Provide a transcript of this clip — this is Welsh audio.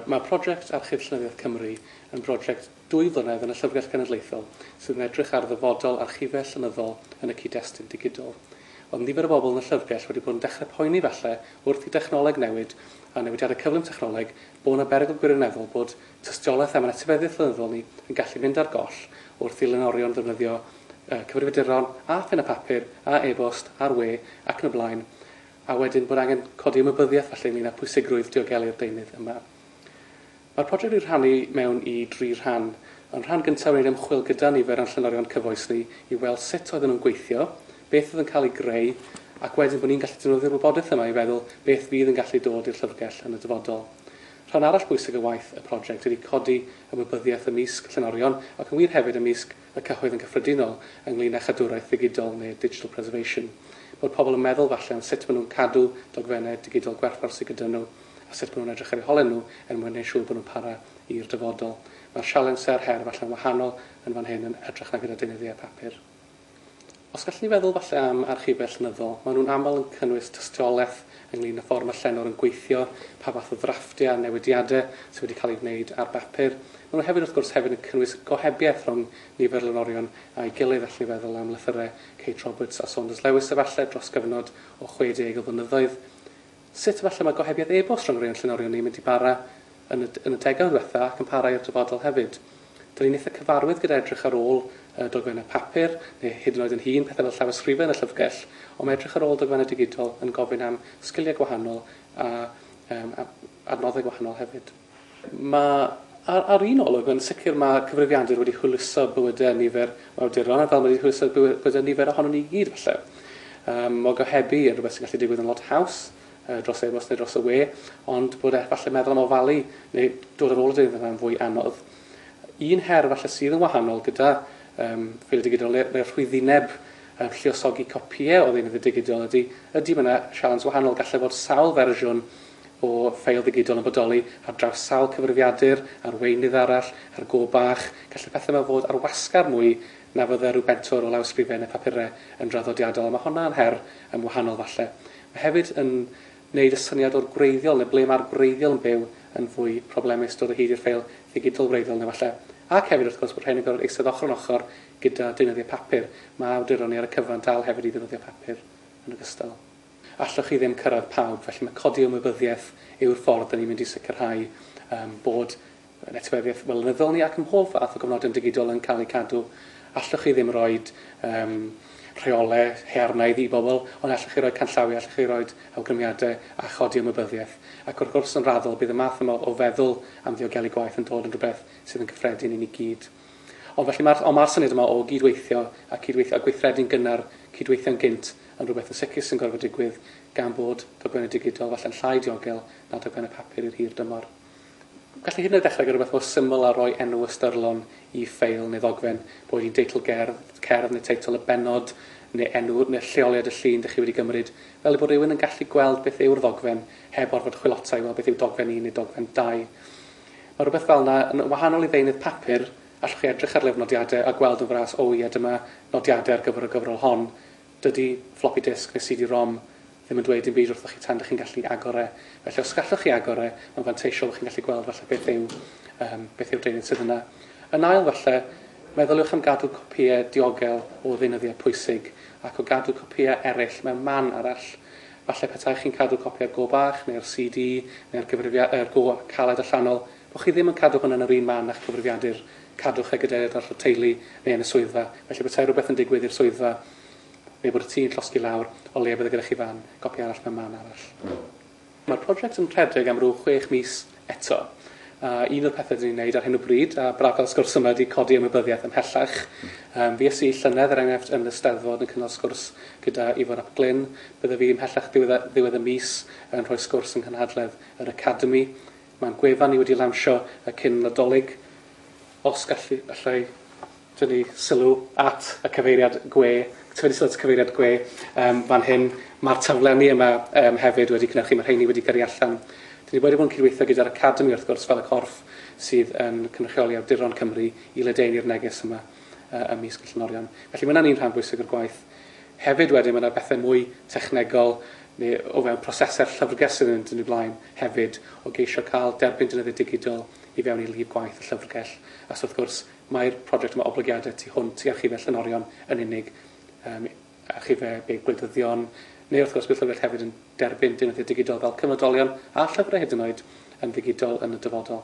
Mae project Archif Llenyddiaeth Cymru yn broject dwy flynedd yn y Llyfrgell Genedlaethol sydd yn edrych ar ddyfodol archifau llenyddol yn y cyd-destun digidol. Oedd nifer o bobl yn y llyfrgell wedi bod yn dechrau poeni falle wrth i dechnoleg newid a newidiadau cyflym technoleg bod 'na berygl gwirioneddol bod tystiolaeth am ein etifeddiaeth lenyddol ni yn gallu mynd ar goll wrth i lenorion ddefnyddio cyfrifiaduron a phen a papur a e-bost a'r we ac yn y blaen a wedyn bod angen codi ymwybyddiaeth falle ynglyn â phwysigrwydd diogelu'r deunydd yma. Mae'r project wedi'i rhannu mewn i dri rhan. Yn rhan gyntaf wneud ymchwil gyda nifer o'n llenorion cyfoes ni i weld sut oedden nhw'n gweithio, beth oedd yn cael ei greu, ac wedyn bod ni'n gallu defnyddio'r wybodaeth yma i feddwl beth fydd yn gallu dod i'r llyfrgell yn y dyfodol. Rhan arall bwysig o waith y project ydy codi ymwybyddiaeth ymysg llenorion ac yn wir hefyd ymysg y cyhoedd yn gyffredinol ynglŷn â chadwraeth ddigidol neu 'digital preservation', bod pobl yn meddwl falle am sut maen nhw'n cadw dogfennau digidol gwerthfawr sydd gyda nhw a sut maen nhw'n edrych ar eu holen nhw er mwyn gwneud siŵr bod nhw'n para i'r dyfodol. Mae'r sialens a'r her falle'n wahanol yn fan hyn yn hytrach na gyda deunyddiau papur. Os gallwn ni feddwl falle am archifau llenyddol, maen nhw'n aml yn cynnwys tystiolaeth ynglŷn â ffordd mae llenor yn gweithio, pa fath o ddrafftiau a newidiadau sydd wedi cael eu gwneud ar bapur. Maen nhw hefyd wrth gwrs hefyd yn cynnwys gohebiaeth rhwng nifer lenorion a'i gilydd, allwn ni feddwl am lythyrau Kate Roberts a Saunders Lewis efallai dros gyfnod o 60 o flynyddoedd. Sut falle mae gohebiaeth e-bost rhwng rhai o'n llenorion ni yn mynd i bara yn y yn y degawd ddiwetha ac yn para i'r dyfodol hefyd? Dyn ni'n eitha cyfarwydd gyda edrych ar ôl yy dogfennau papur, neu hyd yn oed yn hŷn, pethau fel llawysgrifen a llyfrgell, ond mae edrych ar ôl dogfennau digidol yn gofyn am sgiliau gwahanol a yym a adnoddau gwahanol hefyd. Mae, ar, ar un olwg, yn sicr mae cyfrifiadur wedi hwyluso bywydau nifer o awduron, a fel mae wedi hwyluso bywydau nifer ohono ni i gyd, falle. Um, mae gohebu yn rhywbeth sy'n gallu digwydd yn lot haws, uh, dros e-bost neu dros y we, ond bod e falle meddwl am ofalu neu dod ar ôl y deunydd yna'n fwy anodd. Un her falle sydd yn wahanol gyda um, ffeiliau digidol neu'r ne, rhwyddineb um, lliosogi copïau o ddeunydd y digidol ydy, ydy mae yna sialens wahanol, gallai fod sawl fersiwn o ffeil ddigidol yn bodoli ar draws sawl cyfrifiadur, arweinydd arall, ar go bach, gall y pethau yma fod ar wasgar mwy na fydde rhyw bentwr o lawysgrifen neu phapurau yn draddodiadol, a mae honna yn her yn wahanol falle. Mae hefyd yn neud y syniad o'r gwreiddiol neu ble mae'r gwreiddiol yn byw yn fwy problemus, dod o hyd i'r ffeil ddigidol wreiddiol yna falle. Ac hefyd wrth gwrs bod rhein yn gorfod eistedd ochr yn ochr gyda deunyddiau papur, mae awduron ni ar y cyfan dal hefyd i ddefnyddio papur yn ogystal. Allwch chi ddim cyrraedd pawb, felly mae codi ymwybyddiaeth yw'r ffordd dan ni'n mynd i sicrhau um, bod yn etifeddiaeth flynyddol ni ac ym mhob fath o gofnodion digidol yn cael eu cadw. Allwch chi ddim rhoi um, rheolau hearnaidd i bobl, ond allwch chi roi canllawiau, allwch chi roi awgrymiadau a chodi ymwybyddiaeth. Ac wrth gwrs yn raddol, bydd y math yma o feddwl am ddiogelu gwaith yn dod yn rhywbeth sydd yn gyffredin i ni gyd. Ond felly mae'r... ond mae'r syniad yma o gyd-weithio a cyd-weithio a gweithredu'n gynnar, cyd-weithio'n gynt, yn rhywbeth yn sicr sy'n gorfod digwydd gan bod dogfennau digidol falle'n llai diogel na dogfennau papur i'r hir dymor. Gallai hyd yn oed ddechrau gan rhywbeth mor syml â rhoi enw ystyrlon i ffeil neu ddogfen, boed hi'n deitl gerdd, cerdd neu teitl y bennod neu enw neu'r lleoliad y llun dych chi wedi gymryd, fel ei bod rhywun yn gallu gweld beth yw'r ddogfen heb orfod chwilota i weld beth yw dogfen un neu dogfen dau. Mae rhywbeth fel 'na yn wahanol i ddeunydd papur, allwch chi edrych ar lyfr nodiadau a gweld yn fras o ie dyma nodiadau ar gyfer y gyfrol hon, dydi floppy disk neu CD-ROM ddim yn dweud dim byd wrthoch chi tan dych chi'n gallu agor e. Felly os gallwch chi agor e, mae'n fanteisiol fod chi'n gallu gweld falle beth yw yym beth yw'r deunydd sydd yna. Yn ail falle, meddyliwch am gadw copïau diogel o ddeunyddiau pwysig ac o gadw copïau eraill mewn man arall. Falle petai chi'n cadw copi o'r go bach, neu'r CD, neu'r gyfrifiad- er, go caled allanol, bo chi ddim yn cadw hwn yn yr un man a'ch cyfrifiadur, cadwch e gydag eraill o'r teulu, neu yn y swyddfa, felly petai rhywbeth yn digwydd i'r swyddfa, neu bod y tŷ'n llosgi lawr, o leia bydd e gyda chi fan, gopi arall mewn man arall. Mae'r project yn rhedeg am ryw chwech mis, eto. A un o'r pethe 'dyn ni'n neud ar hyn o bryd, a braf cael sgwrs yma, ydi codi ymwybyddiaeth ymhellach. Yym, fues i llynedd, er enghraifft, yn y Steddfod yn cynnal sgwrs gyda Ifor ap Glyn. Bydda fi ymhellach ddiwedd y, ddiwedd y mis yn rhoi sgwrs yng nghynhadledd yr Academi. Mae'n gwefan ni wedi ei lawnsio y cyn Nadolig. Os gallu, allai... tynnu sylw at y cyfeiriad gwe, tynnu sylw at y cyfeiriad gwe um, fan hyn. Mae'r taflenni yma um, hefyd wedi cynhyrchu, mae rheini wedi gyrru allan. Dyn ni wedi bod yn cydweithio gyda'r Academi, wrth gwrs, fel y corff sydd yn cynrychioli awduron Cymru i ledeini'r neges yma uh, ym mis Gwyllynorion. Felly mae yna'n un rhan bwysig o'r gwaith. Hefyd wedyn mae yna bethau mwy technegol neu o fewn prosesau'r llyfrgell sydd yn dyn ni blaen hefyd o geisio cael derbyn dynyddiau digidol i fewn i lif gwaith y llyfrgell. A so wrth gwrs, Mae'r prosiect yma oblygiadau tu hwnt i archifau llenorion yn unig, um, archifau big gwleidyddion, neu wrth gwrs bydd llyfrgell hefyd yn derbyn deunyddiau digidol fel cyfnodolion a llyfrau hyd yn oed yn ddigidol yn y dyfodol.